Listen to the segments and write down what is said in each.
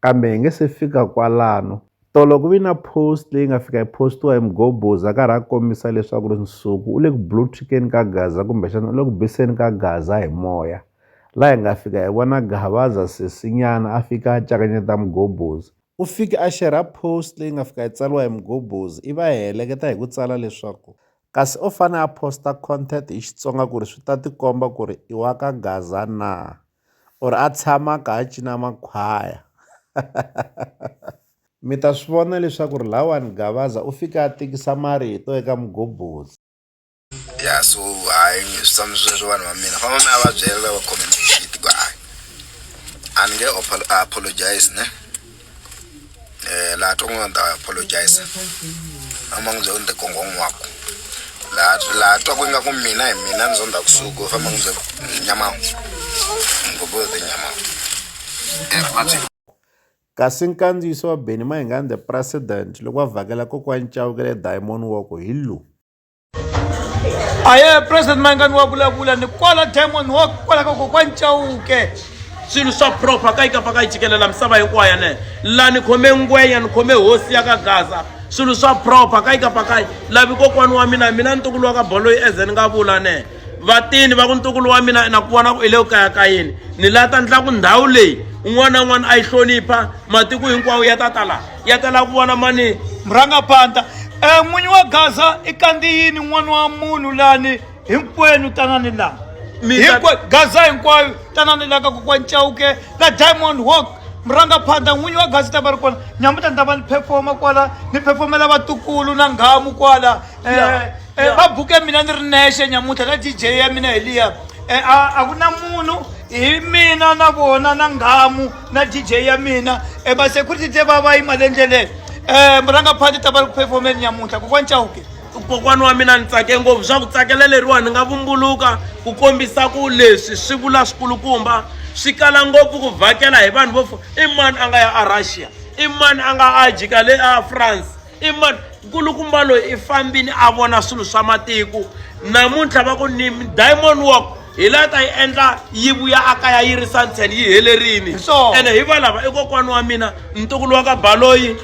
kambe hi nge se fika kwalano tolo ku vi na post leyi nga fika yi postiwa hi Mgobozi a karhi a kombisa leswaku ri Nsuku u le ku blue tickeni ka Gaza kumbexana u le ku biseni ka Gaza hi moya la hi nga fika hi vona Gavaza sesinyana a fika a cakanyeta Mgobozi u fike a xerha post leyi nga fika yi tsariwa hi Mgobozi i va heleketa hi ku tsala leswaku kasi o fane a posta content hi Xitsonga ku ri swi ta tikomba ku ri i wa ka Gaza na. or a tshama a kha a cina makhwaya mi ta swi vona leswaku ri lawani Gavaza u fike a tikisa marito eka mugobotsi ya so hayi swi tshama swi ri vanhu va mina famba mi ya va byela lava khome shit ku hayi a ni nge apologize ne Eh, laha to n'wana ta apologize a ma n'wi byela ku ni tikongo n'waku laha laha twa ku ingaku mina hi mina ni zonda kusuku u famba n'wi byela ku nyamawu ngopfu yo tinyamawu kasi nkandziyiso wa benny mayingani the president loko va vhakela kokwani chauke le diamond walk hi lowu a ye president mayingani wa vulavula ni kwala diamond wa kwala ka kokwani chauke swilo swa proper ka yi ka paka yi jikelela misava hinkwayo ne la ni khome ngwenya ni khome hosi ya ka gaza swilo swa proper ka yi ka paka yi lavi kokwani wa mina mina ntukulu wa ka bolo yi eze ni nga vula ne vatini va ku ntukulu wa mina na ku vona ku i le ku kaya ka yini ni la ta ndla ku ndhawu leyi un'wana na un'wana a yi hlonipha matiko hinkwawo ya ta ta laha ya ta lava ku vona mani murhangapanta um eh, n'winyi wa gaza i kandiyini n'wana wa munhu lani hinkwenu tanani laha hinkwenu gaza hinkwayo tanani laha ka kokwa ncawuke la diamond walk murhangaphandla n'winyi wa gasi ta va ri kona nyamuta ni ta va ni performa kwala ni performela vatukulu na nghamu kwala um eh, eh, va buke mina ni ri nexe nyamuta na dj ya mina hi liya um a ku na munhu hi mina na vona na nghamu na dj ya mina e masecurity te va va yima le ndleleni um murangaphanti ta va ri ku performeni nyamuntlha kokwani chauke kokwana wa mina ni tsake ngopfu swa ku tsakela leriwa ni nga vumbuluka ku kombisa ku leswi swi vula swikulukumba swi kala ngopfu ku vhakela hi vanhu vo i mani a nga ya a russia i mani a nga ajika le a france I mani? Nkulukumba loyi i fambini a vona swilo swa matiko. Namuntlha va ku ni Diamond Walk hi la ta yi endla yi vuya a kaya yi ri santshen yi helerile so ene hi valava i kokwana wa mina ntukulu wa ka baloyi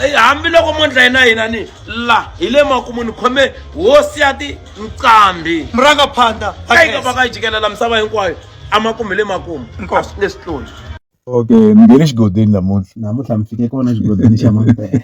eh, hambiloko mondla yina hina ni la hi le makumu ni khome hosi ya ti nqambi muranga phanda ka yi ka va ka yi jikelela misava hinkwayo amakumu hi le makumu leswi tloni okay ni nge ni xigodini namuntlha namuntlha mi fike kona xigodini xa mambele.